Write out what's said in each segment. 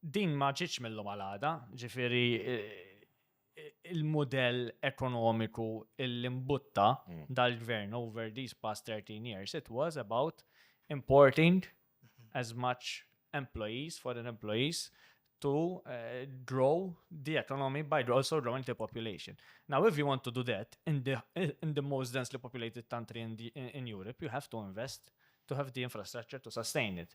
Din ma ġietx mil-lum għal għada, ġifieri il-mudell ekonomiku li mbutta dal-Gvern over these past 13 years, it was about importing as much employees, foreign employees, to grow the economy by also growing the population. Now, if you want to do that in the most densely populated country in Europe, you have to invest to have the infrastructure to sustain it.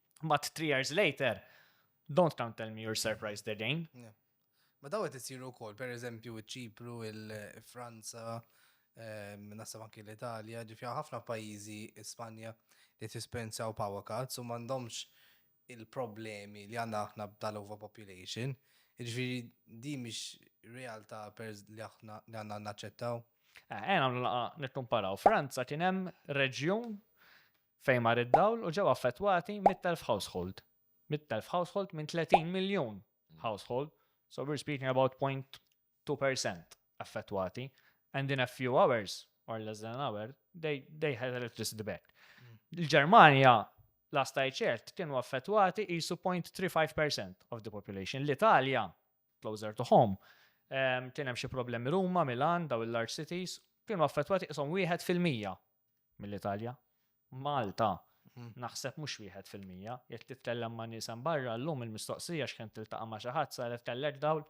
But three years later, don't come tell me you're surprised again. Yeah. Ma daw qed isiru wkoll, pereżempju ċ-Ċipru, il-Franza, ehm, nasab anki l-Italja, ġifi ħafna pajjiżi Spanja li tispenzjaw power cuts u m'għandhomx il-problemi li għandna aħna b'dal overpopulation. Ġifi di mhix realtà li aħna li għandna naċċettaw. Għena eh, eh, nittumparaw. Franza kien hemm reġjun fejn mar id-dawl u ġew affettwati mitt elf household. Mitt elf household minn 30 miljun household, so we're speaking about point two percent affettwati and in a few hours or less than an hour they, they had electricity back. Il-Ġermanja last I checked kienu affettwati isu 0.35% of the population. L-Italja, closer to home, kien hemm xi problemi Ruma, Milan, daw il-large cities, kienu affettwati isom wieħed fil-mija mill-Italja. Malta, naħseb mhux wieħed fil-mija. Jekk titkellem ma' nies hemm barra, llum il-mistoqsija x'kemm tiltaqa' ma' xi ħadd saret kellek dawl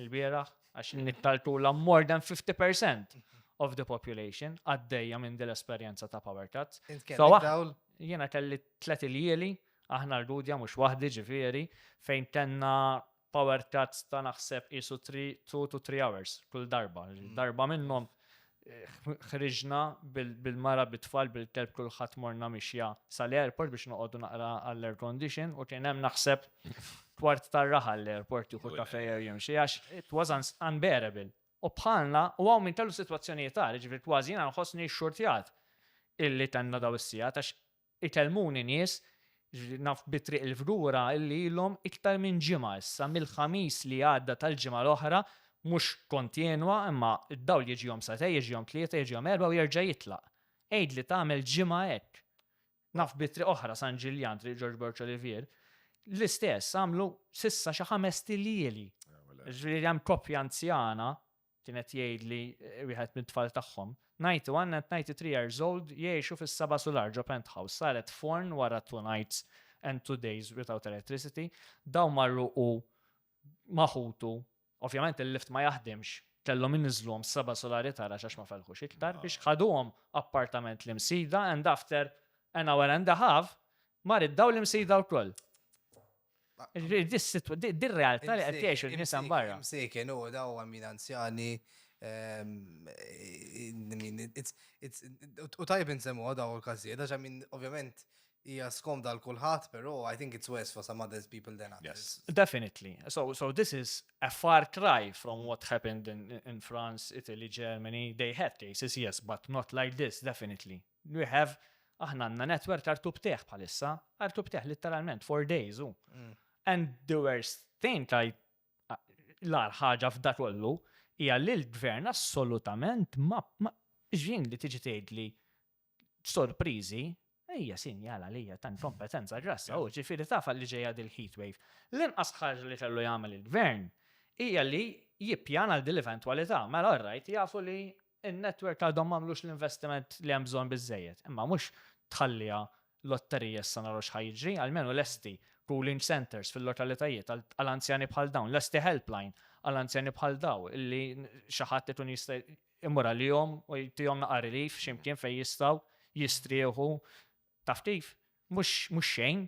il-bieraħ għax nittaltulhom more than 50% of the population għaddejja minn din l-esperjenza ta' power cuts. Int kellek dawl? Jiena kelli tliet iljieli, aħna l-Gudja mhux waħdi ġifieri, fejn kellna power cuts ta' naħseb qisu three, two to three hours kull darba. Mm. Darba minnhom ħriġna bil-mara bit-tfal bil-kelb kulħadd morna mixja sal-airport biex noqogħdu naqra għall-air condition u kien hemm naħseb kwart tar-raħa l-airport jieħu kafej jew jimxi għax it was unbearable. U bħalna u hawn minn kellu sitwazzjonijiet għal, ġifier kważi jiena nħossni xxurtjat illi tenna daw is-sija għax Itellmuni nies, naf bi Triq il-Fgura illi ilhom iktar minn ġimgħa issa mill-Ħamis li għadda tal-ġimgħa l-oħra, mhux kontinwa imma d-dawl jiġihom sagħtejn, jiġihom tlieta, jiġihom erbgħa u jerġa' jitlaq. Għidli tagħmel ġimgħa hekk. Naf bi triq oħra, San Ġiljan, Triq Ġorġ Borg Olivier, l-istess, għamlu s'issa xi ħamest ilieli. Jiġifieri hemm koppja anzjana Kien qed jgħidli wieħed mit-tfal tagħhom. Nighty u Anna at 93 years old jgħixu fis-seba' sular ġo penthouse saret forn wara two nights and two days without electricity. Dawn marru hu ma' ħutu, ovvjament il-lift ma jaħdimx, kellhom iniżżluhom s-seba' sulari tara x'għax ma felħux iktar, biex ħaduhom appartament l-Imsida and after an hour and a half mar id-dawl l-Imsida wkoll. Dir-realtà li qed jgħixu n-nisa mbarra. Imsejkin u da u għamin anzjani. U tajb insemmu għada u l-kazijiet, għax għamin ovvjament hija skomda għal kulħadd, però I think it's worse for some others people than others. Definitely. So, so this is a far cry from what happened in, in France, Italy, Germany. They had cases, yes, but not like this, definitely. We have, aħna għandna netwerk ta' rtub teħ bħalissa, rtub teħ litteralment, four days u. Mm. And the worst thing ta' l-ar ħaġa f'da kollu hija li l-gvern assolutament ma ġin li tiġi tgħidli sorpriżi Ejja sinjala li hija ta' kompetenza grassa u ġifieri tafa li ġejja dil-heat wave. L-inqas ħaġa li kellu jagħmel il-gvern hija li jippjana l dil eventwalità mela rajt jafu li In-network għadhom m'għamlux l-investiment li hemm bżonn biżżejjed. Imma mhux tħalliha lotterija issa naraw x'ħa jiġri, almenu lesti cooling centres fil-lokalitajiet għal anzjani bħal dawn, lesti helpline għal anzjani bħal daw li xi ħadd ikun jista' jmur għalihom u jtihom naqa' relief xi mkien fejn jistgħu jistrieħu. Taf kif? Mhux xejn.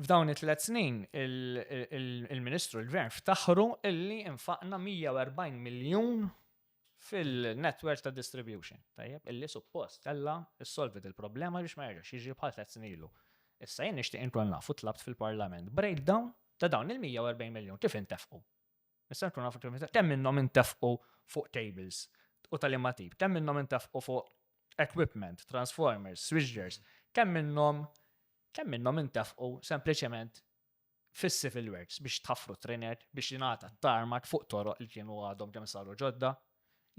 F'dawn it-tliet snin, il-Ministru, il-Gvern ftaħru illi infaqna 140 miljun fil-netwerk ta' distribution, tajjeb, illi suppost kellha ssolvi il-problema biex ma jerġax jiġri bħal tliet snin ilu. Issa jien nixtieq inkun naf u tlabt fil-Parlament breakdown ta' dawn il-140 miljun kif intefqu. Nista' nkun naf kemm minnhom intefqu fuq cables u tal-imma tip, kemm minnhom intefqu fuq equipment, transformers, switchgears, kemm minnhom kemm minnhom intefqu sempliċement fis-civil works biex tħaffru t-trinek, biex jingħata t-tarmak fuq toroq li kienu għadhom kemm saru ġodda.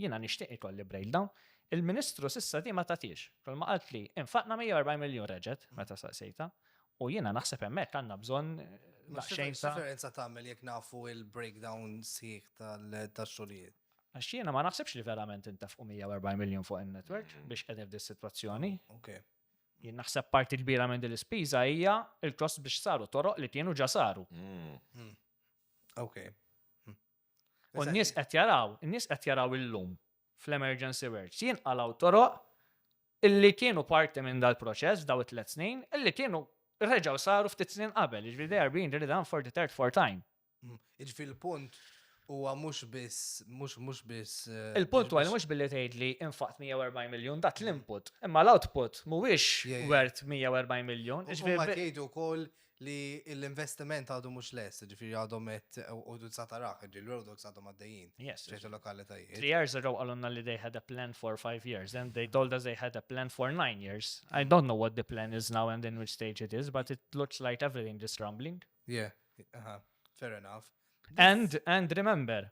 Jiena nixtieq ikolli breakdown. Il-Ministru s'issa di ma tatiex. Kulma qaltli, infaqna 140 miljun reġgħet, meta saqsejtha. U jiena naħseb hemmhekk għandna bżonn daqsxejn ta'. X'differenza tagħmel jekk nafu l-breakdown sħiħ tax-xogħlijiet? Għax jiena ma naħsibx li verament intefqu 140 miljun fuq in-network biex qegħdin f'dis-sitwazzjoni. Jien naħseb parti kbira minn din l-ispiża hija l-cost biex saru toroq li kienu ġa saru. U n-nies qed jaraw, in-nies qed jaraw illum fl-emergency works jinqalgħu toroq illi kienu parti minn dal-proċess f'daw it-tliet snin, illi kienu reġgħu saru ftit snin qabel, jiġifieri they are being redone for the third, fourth time. Jiġifieri l-punt huwa mhux biss, mhux, mhux biss. Il-punt huwa li mhux billi tgħidli infaqt 140 miljun dat l-input, imma l-output mhuwiex wert 140 miljun. Huma qed jgħidu wkoll li l-investiment għadu mhux lest, jiġifieri għadhom qed u sa tarah, jiġifieri l-road works għadhom għaddejjin f'ċertu lokalitajiet. Three years ago qalulna li they had a plan for five years, then they told us they had a plan for nine years. I don't know what the plan is now and in which stage it is, but it looks like everything is rumbling. Yeah, fair enough. And, and remember,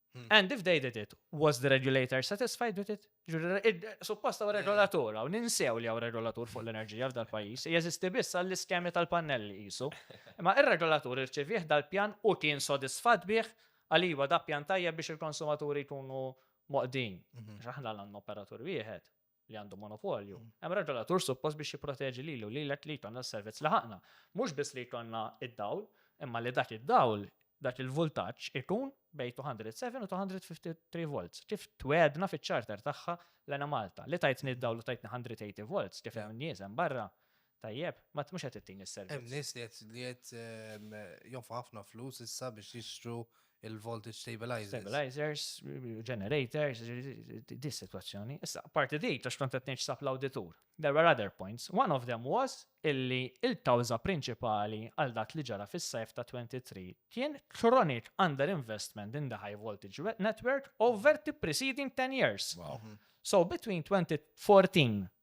Hmm. And if they did it, was the regulator satisfied with it? Supposta u regolatur, u ninsew li għaw regolatur fuq l-enerġija f'dal pajis, jeżisti biss għall-iskemi tal-pannelli jisu. Ma il-regolatur irċivieħ dal-pjan u kien sodisfat bih għaliwa da pjan tajjeb biex il-konsumaturi jkunu moqdin. Mhm. Xaħna l-għanna operatur wieħed. li għandu monopolju. Mm. Hemm regolatur suppost biex jipproteġi lilu lilek li jkollna s-servizz li ħaqna. Mhux biss li jkollna id-dawl, imma li dak id-dawl dak il-voltaġġ ikun bej 207 u 253 volts. Kif twedna fiċ-charter tagħha l-ena Malta li tajtni d-dawl u tajtni 180 volts kif hemm nies hemm barra Tajjeb, ma mhux qed ittini s-servizz. Hemm nies li qed li qed jonfqu ħafna flus issa biex jixtru l-voltage stabilizers. Stabilizers, generators, di s-sitwazzjoni. Issa, apparti di, għax kont qed ngħid x'sab l-awditur, there were other points. One of them was illi l-kawża prinċipali għal dak li ġara fis-sajf ta' 23 kien chronic underinvestment in the high voltage network over the preceding ten years. So between 2014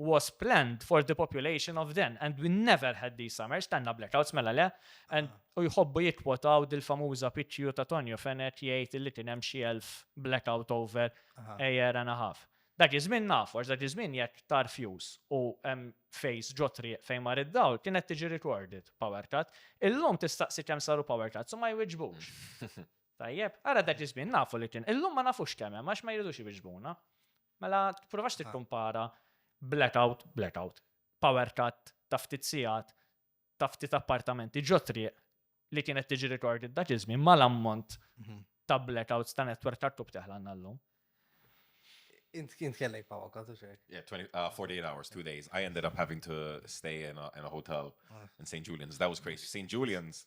was planned for the population of then and we never had these summers, tanna blackouts mela le, and u jħobbu jikwotaw dil-famuża pitju ta' Tonio Fenet jgħid li kien hemm xi elf blackout over a year and a half. Dak iż-żmien naf, għax dak iż-żmien jekk tar fuse u hemm phase ġo triq fejn mar id-dawl kienet tiġi recorded power cut. Illum tistaqsi kemm saru power cuts u ma jwiġbux. Tajjeb, ara dak iż-żmien nafu li kien. Illum ma nafux kemm hemm għax ma jridux iwiġbuna. Mela tipprovax tikkumpara blackout, blackout, power cut ta' ftit sigħat ta' ftit appartamenti ġo triq li kienet tiġi recorded dak iż-żmien mal-ammont ta' blackouts ta' network ta' kub teħlanna llum. Int kien kellek power cut u xejn. Yeah, 20, uh, 48 hours, two days. I ended up having to stay in a, in a hotel in St. Julian's. That was crazy. St. Julian's,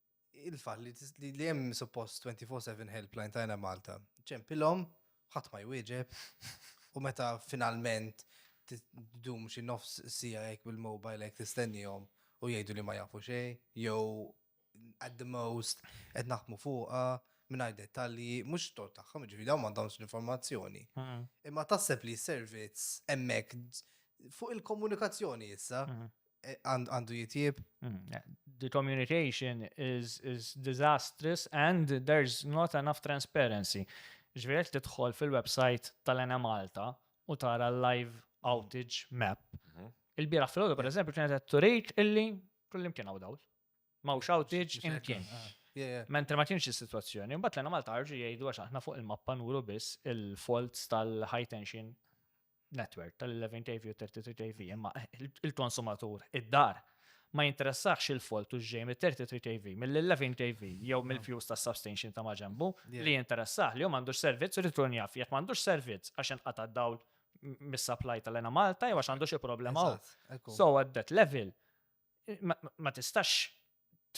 il-fall li li hemm suppost 24/7 helpline tajna Malta. Ċempilhom, ħadd ma jwieġeb, u meta finalment t- dum xi nofs sija hekk bil-mobile hekk tistennihom u jgħidu li ma jafu xejn, jew at the most qed naħdmu fuqha mingħajr dettalji, mhux tort tagħhom, jiġifieri dawn m'għandhomx l-informazzjoni. Mhm. Imma taħseb li s-servizz hemmhekk fuq il-komunikazzjoni issa, Mhm. eh, għandu jitjib. Hmm, eh, the communication is, is disastrous and there's not enough transparency. Ġvirek tidħol fil-website tal-Ena Malta u tara l-live outage map. Mhm. Il-bira fil-ħodu, per eżempju, kienet għed turejt illi kullim kien għawdawl. Ma' outage imkien. Ah. Mentri ma kienx is-sitwazzjoni, mbagħad l Malta ħarġu jgħidu għax aħna fuq il-mappa nuru biss il-faults tal-high tension network tal-11 kV u 33 kV, imma il-konsumatur id-dar ma jinteressax il-folt u ġej mit-33 kV, mill-11 kV jew mill-fuse ta' substation ta' maġembu li jinteressax li jom għandux servizz u jkun jaf jekk m'għandux servizz għax inqata' dawl mis-supply tal-ena Malta jew għax għandu xi problema. So at that level ma tistax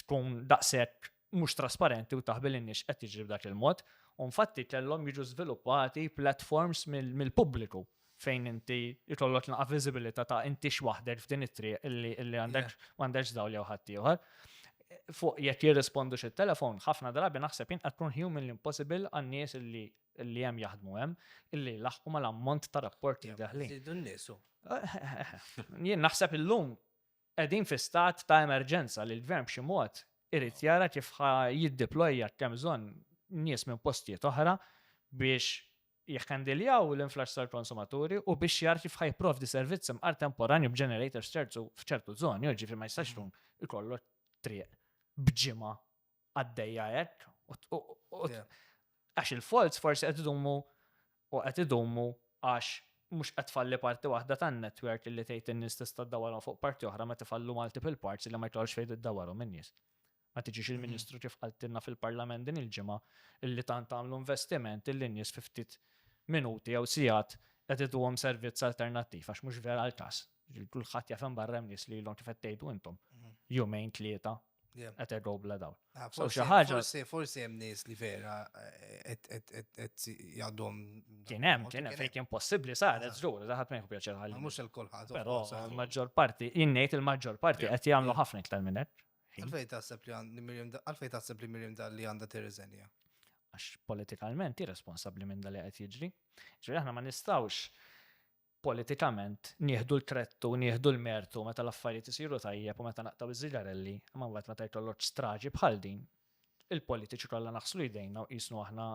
tkun daqshekk mhux trasparenti u taħbil in-nies qed jiġri b'dak il-mod. U infatti kellhom jiġu żviluppati platforms mill-pubbliku fejn inti jkollok naqa' viżibilità ta' inti waħdek f'din it-triq illi għandek m'għandekx dawl jew ħadd ieħor. Fuq jekk jirrispondu xi telefon, ħafna drabi naħseb jien qed tkun human impossible għan-nies illi li hemm jaħdmu hemm illi laħqu mal-ammont ta' rapporti daħli. Jien naħseb illum Qegħdin fi stat ta' emerġenza li l-Gvern b'xi mod irid jara kif ħa jiddeploja jekk hemm bżonn nies minn postijiet oħra biex jikhandiljaw l-influss tal-konsumaturi u biex jara kif ħa jipprovdi servizz imqar temporanju b'generators terzu f'ċertu żoni, jiġifieri ma jistax tkun ikollok triq b'ġimgħa għaddejja hekk. Għax il-faults forsi qed idumu u qed idumu għax mhux qed falli parti waħda tan-netwerk li tgħid in-nies tista' ddawarhom fuq parti oħra meta fallu multiple parts li ma jkollx fejn iddawarhom in-nies. Ma tiġix il-Ministru kif qaltilna fil-Parlament din il-ġimgħa illi tant għamlu investiment illi n-nies fi ftit minuti jew sigħat qed iduhom servizz alternattiv għax mhux vera l-każ. Kulħadd jaf hemm barra hemm nies li ilhom kif qed tgħidu intom. Jumejn tlieta Qed errow bla dawl. Ah, So xi ħaġa Forsi, forsi hemm nies li vera eh, qed jgħadhom. kien hemm, kien hemm fejn kien possibbli saret żgur, daħat ma jħu pjaċir ħalli. Mhux il-kulħadd. Però il-maġġor parti, jien ngħid il-maġġor parti qed jagħmlu ħafna iktar minn hekk. Għalfej taħseb li għand- Miriam Da- għalfej taħseb li Miriam Dalli għandha tirriżenja? għax politikalment hi responsabbli minn dali qed jiġri. Ġifieri aħna ma nistgħux politikament nieħdu l-kredd u nieħdu l-mertu meta l-affarijiet isiru tajjeb u meta naqtgħu ż-żigarelli, imma mbagħad meta jtollgħoġ straġi bħal din, il-politiċi kollha naħslu jdejna u qisnu aħna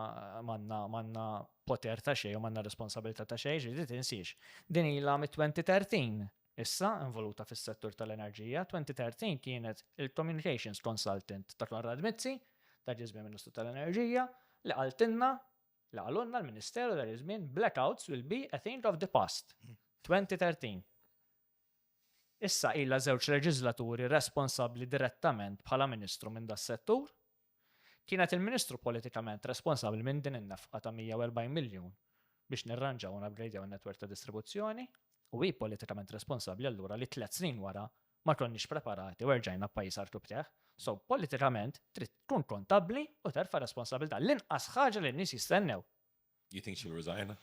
m'għandna poter ta' xejn u m'għandna responsabilità ta' xejn, ġifieri tinsiex, din ilha mit-2013 issa involuta fis-settur tal-enerġija, 2013 kienet il-communications consultant ta' Konrad Mizzi, ta' Ġiż Prim Ministru tal-Enerġija, li qaltilna li qalulna l-Ministeru dak iż-żmien blackouts will be a thing of the past, 2013. Issa ilha żewġ leġiżlaturi responsabbli direttament bħala Ministru minn das-settur. Kienet il-Ministru politikament responsabbli minn din in-nefqa ta' 140 miljun biex nirranġaw u napgrejdjaw in-netwerk ta' distribuzzjoni u hi politikament responsabbli allura li tliet snin wara ma konniex preparati u erġajna pajjiż artu b'teħ. So, politikament, trid tkun kontabbli u terfa' responsabilità. L-inqas ħaġa li n-nies jistennew. You think she'll resign?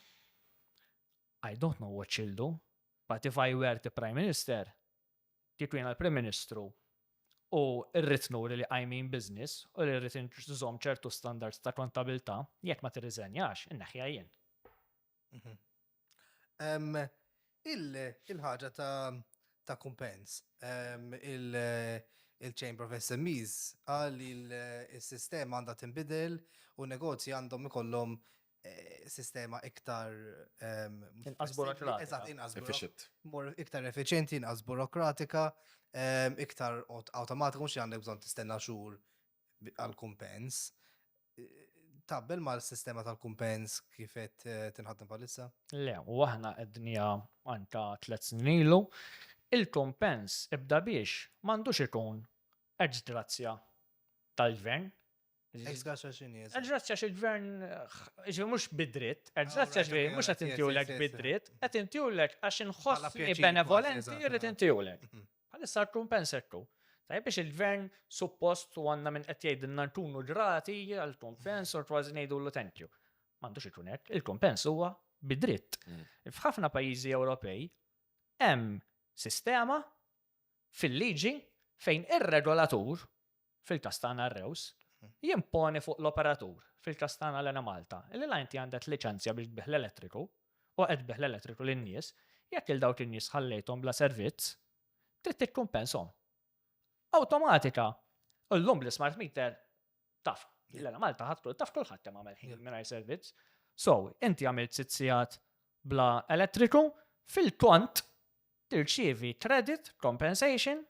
I don't know what she'll do, but if I were the Prime Minister, kieku jena l-Prim Ministru, u rrit nuri li I mean business, u li rrit nżom ċertu standards ta' kontabilta, jekk ma tirriżenjax, inneħja jien. Il-ħaġa ta' kumpens, il-Chamber of SMEs qal li s-sistema għandha tinbidel u negozji għandhom ikollhom sistema iktar inqas effiċjenti, inqas burokratika, iktar awtomatika, mhux li għandek bżonn tistenna xhur għall-kumpens taqbel mal-sistema tal-kumpens kif qed tinħaddem bħalissa? Le, u aħna qedniha għan ta' tliet snin ilu. Il-kumpens ibda biex m'għandux ikun ex grazzja tal-gvern. Ex grazzja x'inhi? Ex grazzja xi gvern ġifieri mhux bid-dritt, ex grazzja ġifieri mhux qed intiulek bid-dritt, qed intiulek għax inħossni benevolenti rrid intiulek. Bħalissa rtun pensettu. Tajjeb biex il-Gvern suppost u għandna min qed jgħidilna rtun u ġrati għal tun pens u kważi ngħidulu thank you. M'għandux ikun hekk, il-tun pens huwa bi dritt. F'ħafna pajjiżi Ewropej hemm sistema fil-liġi fejn ir-regolatur fil-każ tagħna r-Rews, jimponi fuq l-operatur, fil-każ tagħna l-Enemalta, li la inti għandek liċenzja biex tbigħ l-elettriku u qed tbigħ l-elettriku lin-nies, jekk lil dawk in-nies ħallejthom bla servizz, trid tikkumpensahom. Awtomatika! U llum bl-ismart meter taf li l-Enemalta ħadd kull taf kulħadd kemm għamel ħin mingħajr servizz. So, inti għamilt sitt sigħat bla elettriku, fil-kont tirċievi credit compensation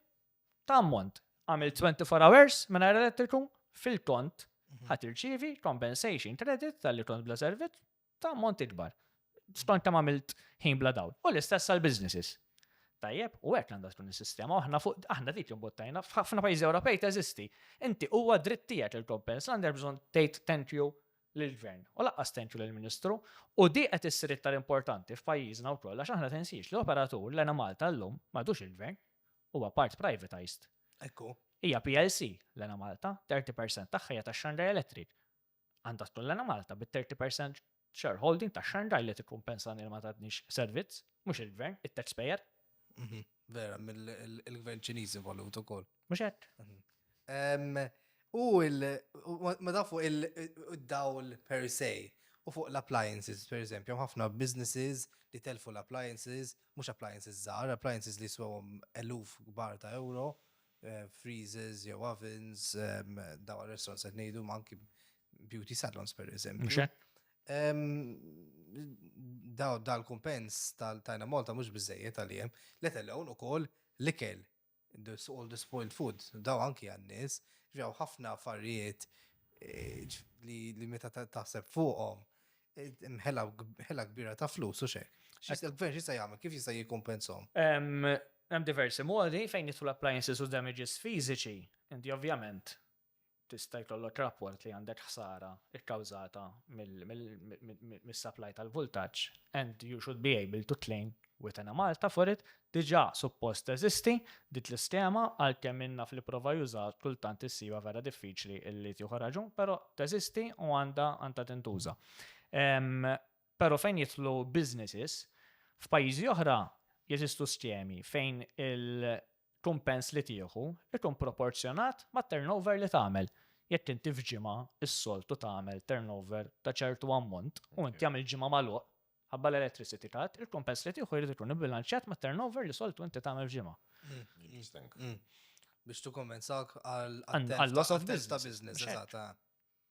ta' ammont għamil 24 hours mingħajr elettriku fil-kont mhm. ħat irċivi compensation credit tal-li kont bla servizz ta' ammont ikbar. Skont kemm għamilt ħin bla dawl. U l-istess għal businesses. Tajjeb, u hekk għandha tkun is-sistema, aħna fuq aħna dik imbottajna f'ħafna pajjiżi Ewropej teżisti. Inti huwa dritt tiegħek il-kompens għandek bżonn tgħid thank you lill-gvern u laqqas thank you lill-Ministru u di qed issir iktar importanti f'pajjiżna wkoll għax aħna tensiex li operatur l-ena Malta llum m'għadux il-gvern huwa part privatized. Ekku. Hija PLC l-Ena Malta, 30% tagħha hija ta' Xandra Electric. Għandha tkun l-Ena Malta bit-30% shareholding ta' Xandra li tikkumpensa li ma tadniex servizz, mhux il-gvern, it-taxpayer. Mhm. Vera, mill-gvern ċiniż involut ukoll. Mhux hekk? Mhm. U ma tafu il-dawl per se u fuq l-appliances, per eżempju, ħafna businesses li telfu l-appliances Mhux appliances żgħar, appliances li jiswewhom eluf kbar ta' ewro, freezers jew ovens, dawn għar-restaurants qed ngħidu, imma anki beauty salons pereżempju. Mhux hekk? Dan il-kumpens ta' Tajna Malta mhux biżżejjed għalihom, let alone ukoll l-ikel There's all the spoiled food, dawn anki għan-nies. Jiġifieri hawn ħafna affarijiet li meta taħseb fuqhom, hemm ħela kbira ta' flus u x'hekk. Il-Gvern x'jista' jagħmel, kif jista' jikkumpensahom? Hemm diversi modi fejn jidħlu appliances u damages fiżiċi. Inti ovvjament tista' jkollok rapport li għandek ħsara kkawżata mis-supply tal-vultaġġ and you should be able to claim with Enemalta for it, diġà suppost teżisti dik l-iskema għalkemm min naf li pprova jużaha kultant issibha vera diffiċli li tieħu raġun però teżisti u għandha tintuża. Però fejn jidħlu businesses, f'pajjiżi oħra jeżistu skemi fejn il-kumpens li tieħu jkun proporzjonat mat-turnover li tagħmel. Jekk inti f'ġimgħa s-soltu tagħmel turnover ta' ċertu ammont u inti għamilt ġimgħa magħluq, ħabba l-electricity cut, il-kumpens li tieħu jrid ikun ibbilanċjat mat-turnover li soltu inti tagħmel f'ġimgħa. Biex tikkumpensah għal-loss of business.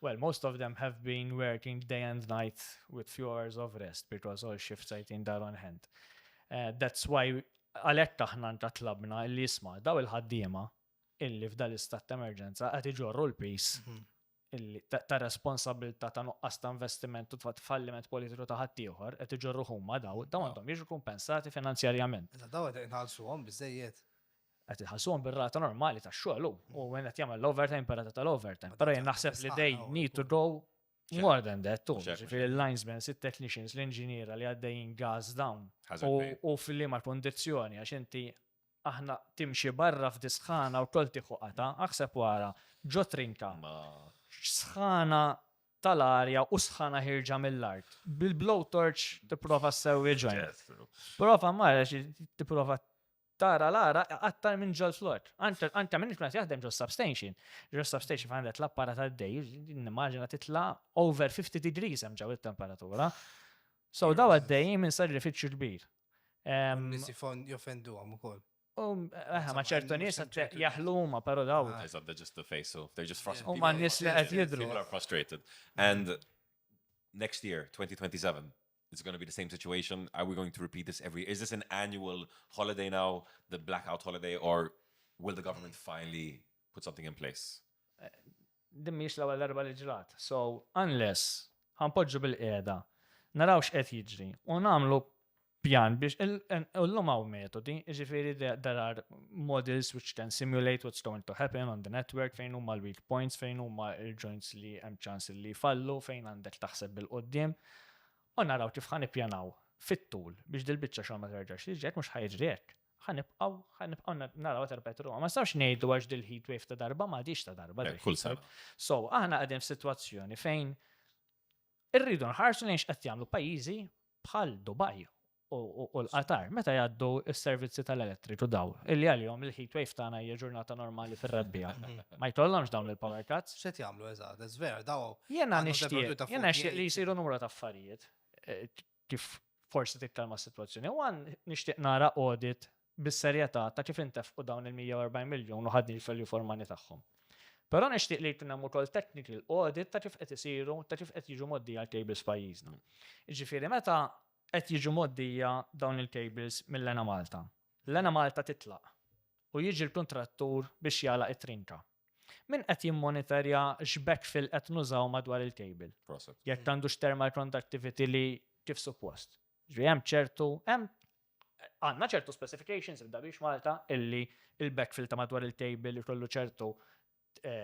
Well most of them have been working day and night with few hours of rest because all shifts are teen dar on hand. That's why għalhekk aħna nta tlabna illi isma' daw il-ħaddiema illi f'dal istat ta' emerġenza qed iġorru l-piż illi ta' responsabbiltà ta' nuqqas ta' investiment u ta' falliment politiku ta' ħaddieħor qed iġorruh huma daw, daw għandhom jiġu kumpensati finanzjarjament. Iżda daw qed inħallsuhom biżżejjed? qed iħallsuhom bir-rata normali tax-xogħol hu, u min qed jagħmel l-overtime bir-rata tal-overtime. Però jien naħseb li they need to go more than that too. Ġifieri l-linesmen, it-technicians, l-inġiniera li għaddejjin gas down u fil-liema kondizzjoni għax inti aħna timxi barra f'disħana u kol tieħu qata, aħseb wara ġo trinka. Sħana tal-arja u sħana ħirġa mill-art. Bil-blowtorch tipprova ssewwi ġojn. Prova marra tipprova Tara l-għaraq iqattar minn ġol-flott. Għanta minn ikna jaħdem ġol substation. Ġol substation fejn għandet l-apparat għaddej, nimmaġina titla over 50 degrees hemm ġew it-temperatura. So daw għaddej minn sar rifiċċju kbir. Nisi fond jofendu għam ukoll. Eħe, ma ċertu nis jaħlu ma pero daw. Eyes up, they're just the face, so they're just frustrated. U ma nis li għed jidru. People are frustrated. And next year, 2027, It's going to be the same situation. Are we going to repeat this every year? Is this an annual holiday now, the blackout holiday, or will the government finally put something in place? Din mhix l-ewwel darba li ġrat. So, unless ħanpoġġu bil-qiegħda, naraw x'qed jiġri u nagħmlu pjan biex illum hawn metodi, jiġifieri there are models which can simulate what's going to happen on the network fejn huma l-weak points, fejn huma l-joints li hemm ċans li jfallu, fejn għandek taħseb bil-qudiem. U naraw kif ħa nippjanaw fit-tul biex dil-biċċa xogħol ma terġax tiġi hekk mhux ħa jiġri hekk. Ħa nibqgħu ħa nibqgħu naraw terpet ruha. Ma nistgħux ngħidu għax dil-heat wave ta' darba ma għadix ta' darba. Kull sar. So, aħna qegħdin f'sitwazzjoni fejn irridu nħarsu lejn x'qed jagħmlu pajjiżi bħal Dubai u l-qatar, meta jgħaddu s-servizzi tal-elettriku daw, illi għalihom il-heat wave tagħna hija ġurnata normali fir-rebbija. Ma jkollhomx dawn il-power cuts. Se jagħmlu eżatt, żver daw. Jiena nixtieq, jiena nixtieq li jsiru numru ta' affarijiet eh, kif forsi tikkalma s-sitwazzjoni. U għan nixtieq nara audit bis-serjetà ta' kif intefqu dawn il-140 miljun u ħadni l-felju formani tagħhom. Però nixtieq li jkun hemm ukoll technical audit ta' kif qed isiru, ta' kif qed jiġu moddi għal cables pajjiżna. Ġifieri meta Qed jiġu mgħoddija dawn il-kejbils mill-Enamalta. L-Enamalta titlaq u jiġi l-kuntrattur biex jagħlaq it-trinka. Min qed jimmonitorja x'backfill qed nużaw madwar il-kejbil? Proset. Jekk għandux thermal conductivity li kif suppost. Ġifieri hemm ċertu, hemm għandna ċertu specifications f'Dabix Malta illi l-backfill ta' madwar il-kejbil ikollu ċertu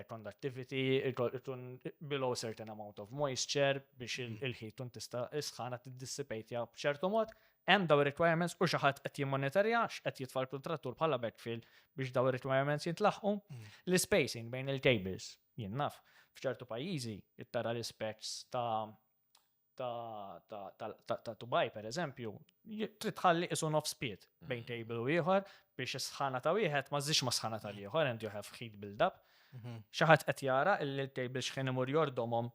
conductivity, ikun below certain amount of moisture biex il-ħit tkun tista' isħana tiddissipatja b'ċertu mod. Hemm daw requirements u xi ħadd qed jimmonitorja x'qed jitfal kontrattur bħala backfill biex daw requirements jintlaħqu. L-spacing bejn il-cables, jien naf, f'ċertu pajjiżi tara l-ispecks ta' ta' tubaj, pereżempju, trid tħalli qisu nofs pied bejn table u ieħor biex is-sħana ta' wieħed ma żżidx mas-sħana tal-ieħor and you have heat build up. Xi ħadd qed jara li l-table xħin imur jordhomhom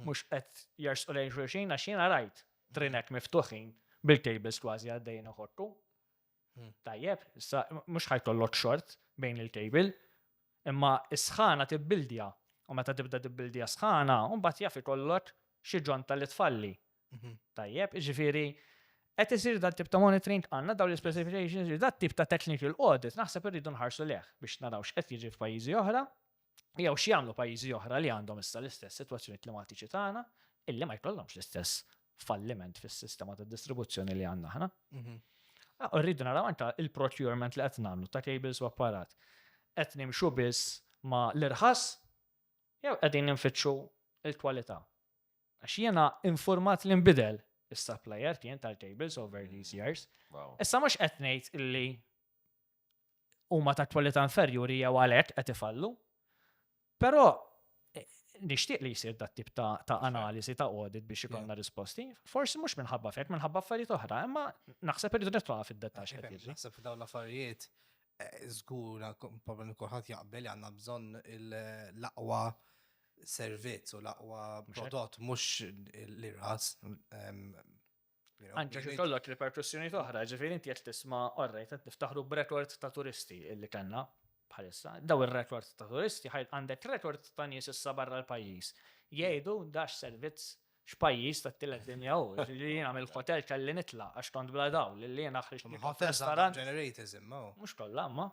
mhux qed jersqu lejn xulxin għax jiena rajt trinek miftuħin bil-tables kważi għaddejjin iħottu. Hmm. Tajjeb, issa mhux ħajkollok xort bejn il-kejbil, imma s-sħana tibbildja u meta tibda tibbildja sħana, u mbagħad jaf ikollok xi ġonta li tfalli. Mhm. Tajjeb, ġifieri qed isir dan tip ta' monitoring għandna dawn l-specifications, dan tip ta' technical audit naħseb irridu nħarsu leħ biex naraw x'qed jiġi f'pajjiżi oħra Jew x'jagħmlu pajjiżi oħra li għandhom issa l-istess sitwazzjoni klimatiċi tagħna illi ma jkollhomx l-istess falliment fis-sistema ta' distribuzzjoni li għandna aħna. Mhm. Ah, rridu naraw anke il-procurement li qed nagħmlu ta' cables u apparat. Qed nimxu biss ma l-irħas jew qegħdin ninfittxu il-kwalità. Għax jiena informat li nbidel is-supplier kien tal-cables over these years. Issa mhux qed ngħid illi huma ta' kwalità inferjuri jew għalhekk qed ifallu. Però eh, nixtieq li jsir dat tip ta', ta analiżi ta' audit biex ikollna risposti. Forsi mhux minħabba fek, minħabba affarijiet oħra, imma naħseb irridu nitluqa fid-dettax. Naħseb f'dawn l-affarijiet eh, żgura problem kulħadd jaqbel li għandna bżonn l-aqwa servizz u l-aqwa prodott mhux l-irħas Anke kif ikollok riperkussjonijiet oħra, ġifieri inti qed tisma' orrejt qed niftaħru b'rekord ta' turisti li kellna bħalissa. Dawn ir-rekord ta' turisti għandek rekord ta' nies issa barra l-pajjiż jgħidu da x'servizz, x'pajjiż tat-tielet dinja hu. Jiġifieri jiena mill-ħotel kelli nitlaq għax kont bla dawl, lil jiena ħriġt nieħu f'ristorant. Ħotels għandhom ġenerators imma. Mhux kollha imma.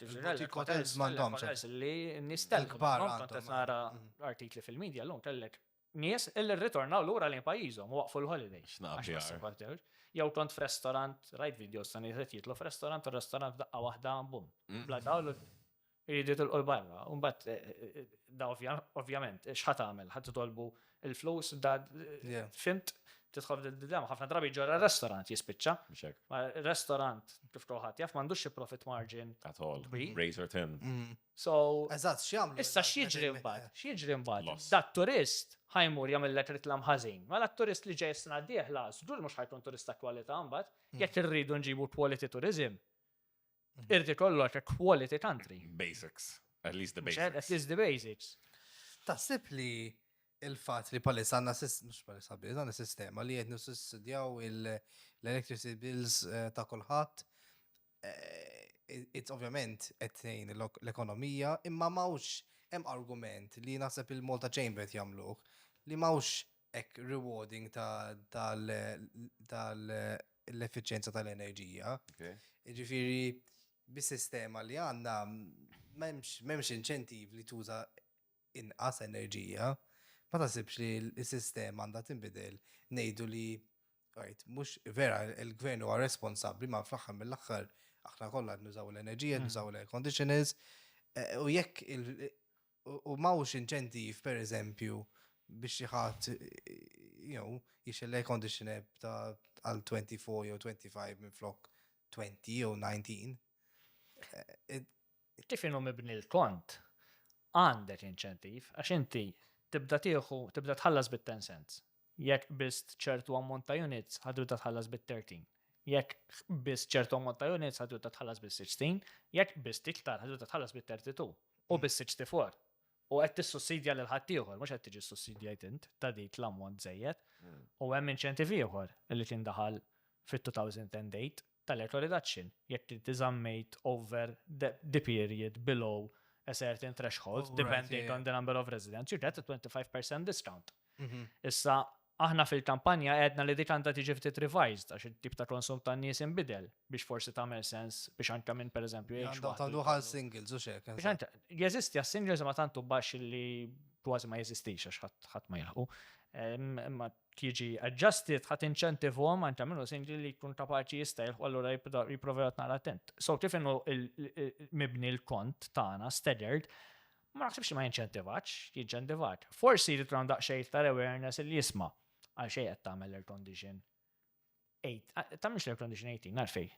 Ġifieri ħotels m'għandhomx. Ħotels li n-nies telqu. Kont qed nara artikli fil-midja llum kellek nies illi rritornaw lura lejn pajjiżhom u waqfu l-holiday. X'nafx. Jew kont f'restorant, rajt videos ta' nies qed jitlu f'restorant u restorant f'daqqa waħda bum. Bla dawl u jridu jitilqu l-barra. U mbagħad eh, eh, eh, da ovvjament x'ħa tagħmel? Ħa titolbu l-flus da fimt tidħol d-didema. Ħafna drabi ġorra restorant jispiċċa. Restorant kif kulħadd jaf m'għandux xi profit margin. At all. Razor tin. Mm. So, Eżatt, x'jagħmlu? issa x'jiġri mbagħad? X'jiġri mbagħad? Loss. Da t-turist ħa jmur jagħmillek riklam ħażin. Mela t-turist li ġej is-sena d-dieħla żgur mhux ħa jkun turist ta' kwalità mbagħad. Jekk irridu nġibu quality tourism, irid ikollok a quality country. Basics. At least the Mhux hekk, basics. At least the basics. Taħseb li il-fatt li palissa għandna sis- mhux palissa biss, għandna sistema li qed nissussidjaw il- l-electricity bills eh, ta' kulħadd it's ovvjament qed tgħin l-ekonomija, imma m'hawnx hemm argument li naħseb il-Malta Chamber qed jagħmluh li m'hawnx hekk rewarding tal-effiċjenza tal-enerġija. Jiġifieri bis-sistema li għandna m'hemmx inċentiv li tuża inqas enerġija, ma taħsibx li s-sistema għandha tinbidel, ngħidu li right, mhux vera il-gvern huwa responsabbli ma fl-aħħar mill-aħħar aħna kollha nużaw l-enerġija, hmm. nużaw l-air conditioners, eh, u jekk u mawx inċentiv per eżempju biex jħat jew jiex l-air conditioner ta' għal 24 jew 25 minn flok 20 jew 19. Eh, Kif inhu mibni l-kont, għandek inċentiv għax inti tibda tieħu, tibda tħallas bit-ten cents. Jekk qbist ċertu ammont ta' units, ħa tibda tħallas bit-thirteen. Jekk qbist ċertu ammont ta' units, ħa tibda tħallas bis-sixteen. Jekk qbist iktar, ħa tibda tħallas bit-thirty two u bis-sixty four. U qed tissussidja lil ħaddieħor, mhux qed tiġi ssussidjajt int ta' dik l-ammont żejjed. U hemm inċentiv ieħor li kien daħal fit-2008 tal-earthly reduction jekk inti żammejt over the period below a certain threshold depending on the number of residents, you get a 25 per cent discount. Issa, aħna fil-kampanja għedna li dik għandha tiġi ftit revised għax it-tip ta' konsum tan-nies inbidel biex forsi tagħmel sens biex anke minn pereżempju jgħix. Għandha tagħdu għal singles u xek. Jeżisti għas-singles ma tantu baxx li kważi ma jeżistix għax ħadd ma jilħu. Imma tiġi adjusted ħa tinċentivhom għand jagħmlu singli li jkun kapaċi jista' jilħu allura jipprova jgħod nara attent. So kif inhu mibni l-kont tagħna staggered, ma naħsibx ma jinċentivax, jinċentivat. Forsi li tram daqsxejn iktar awareness li jisma' għal xejn qed tagħmel air condition. Tagħmilx air condition 18 għalfej.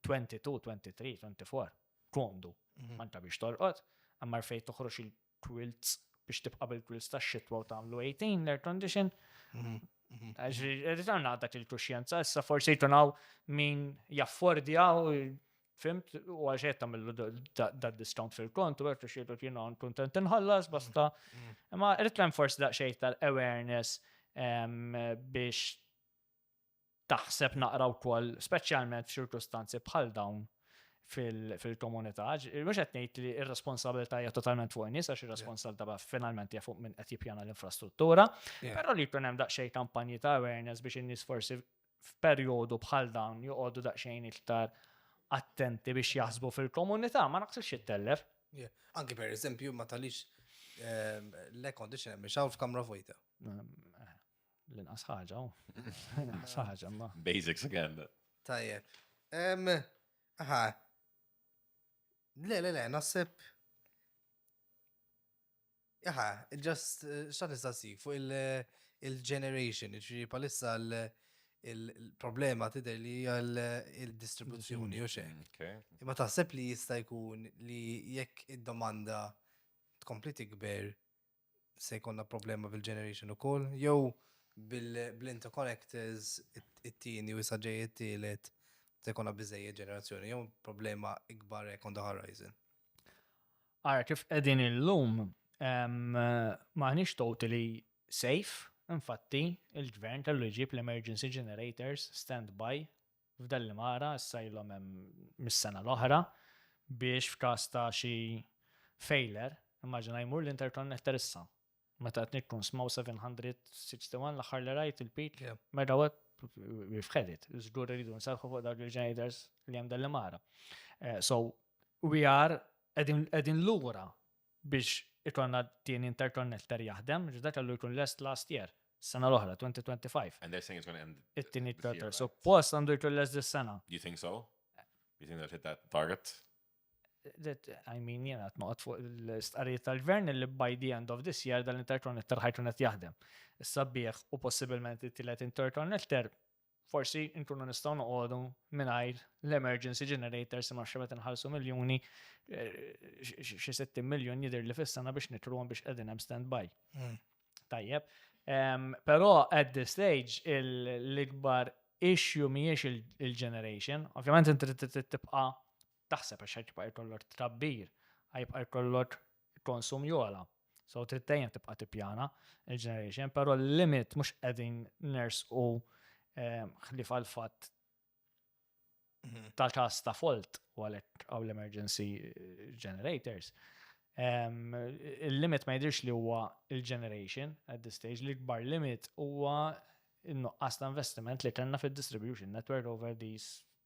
22, 23, 24. Kondu. Mhm. Ma nta biex torqod, għammar fej toħroġ quilts biex tibqa' bil-quilts tax-xitwa u tagħmlu 18 l-air condition. Mhm, mhm. Ritorna għal dak il-kuxjenza, issa forsi jtunaw min jaffordja u fimt u għal xejn tagħmlu dat discount fil-kont u għertu xietu kienu għan kontent inħallas basta. Mhm, Imma rrit forsi daqsxejn tal-awareness biex taħseb naqra wkoll, speċjalment f'ċirkustanzi bħal dawn fil-komunità. Mhux qed ngħid li r-responsabilità hija totalment fuq nies għax ir-responsabilità finalment hija fuq minn qed jippjana l-infrastruttura, però li jkun hemm daqsxejn kampanji ta' awareness biex in-nies forsi f'perjodu bħal dawn joqogħdu daqsxejn iktar attenti biex jaħsbu fil-komunità, ma naqsibx jittellef. Anki per eżempju, ma talix ehm, l-air conditioner miex hawn f'kamra vojta. Ehm, eh. L-inqas ħaġa, oh. l-inqas ħaġa, ma. Basics again. Tajjeb. Aha. Le, le, le, naħseb. Aha, just, eh, xat nistaqsi, fuq il-generation, eh, ġifiri palissa il-problema tider li il-distribuzzjoni, u xek. Mm, Imma taħseb li jista' jkun li jekk id-domanda tkompli tikber, se jkollna problema bil-generation ukoll, jew bil-interconnectors it-tieni u saġej it-tielet se jkollna biżejjed ġenerazzjoni, jew problema ikbar hekk on the horizon. Ara kif qegħdin illum maħniex totally safe, infatti il-gvern kellu jġib l-emergency generators standby F'dan l-Imara issa ilhom hemm mis-sena l-oħra biex f'każ ta' xi failure, immaġina jmur l-interconnector issa. Meta qed nikkunsmaw 761 l-aħħar li rajt il-peak megawatt we've had it. Żgur irridu nserrħu fuq dawk il-ġenitors li hemm dan l-Imara. So we are qegħdin lura biex ikollna t-tieni interconnector jaħdem, għax dak kellu jkun lest last year, is-sena l-oħra, 2025. And they're saying it's gonna end this year, right? It-tieni interconnector. Suppost għandu jkun lest dis-sena. You think so? You think they'll hit that target? I mean, jiena qed noqgħod fuq l-istqarrijiet tal-gvern li by the end of this year dan l-interconnector ħajkun qed jaħdem. Is-sabiħ u possibilment it-tielet interconnector forsi nkunu nistgħu noqogħdu mingħajr l-emergency generators imma xi meta nħallsu miljuni xi 60 miljun jidher li fis-sena biex nitruhom biex qegħdin hemm stand by. Hmm. Tajjeb. Però at this stage l-ikbar issue mhijiex il-generation, ovvjament inti tibqa' taħseb għax jibqa' jkollok tkabbir, jibqa' jkollok konsum jogħla. So trid dejjem tibqa' tippjana l-generation, però l-limit mhux qegħdin nersqu ħlief għal fatt ta' każ ta' fault u għalhekk għaw l-emergency generators. Il-limit ma jidhirx li huwa il-generation at this stage, l-ikbar limit huwa n-nuqqas ta' investiment li kellna fid-distribution network over these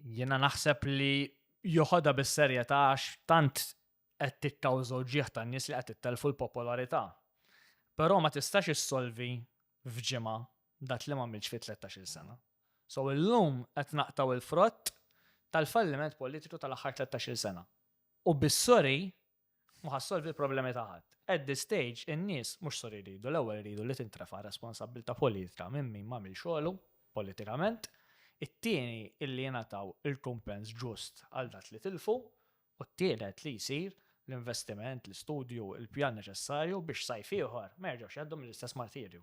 Jiena naħseb li joħodha bis-serjetà għax tant qed tikkawżaw ġieħ tan-nies li qed tittelfu l-popolarità. Però ma tistax issolvi f'ġimgħa dak li m'għamiltx fi 13-il sena. So illum qed naqtaw il-frott tal-falliment politiku tal-aħħar 13-il sena. U bis-sorry Mhu ħa ssolvi l-problemi ta' ħadd. At this stage, in-nies mhux sur iridu, l-ewwel iridu li tintrefa' r-responsabbiltà politika minn min m'għamilx xogħlu politikament, it-tieni illi jingħataw il-kumpens ġust għal dak li tilfu, u t-tielet li jsir l-investiment, l-istudju, il-pjan neċessarju biex sajf ieħor ma jerġgħux jgħaddu mill-istess martirju.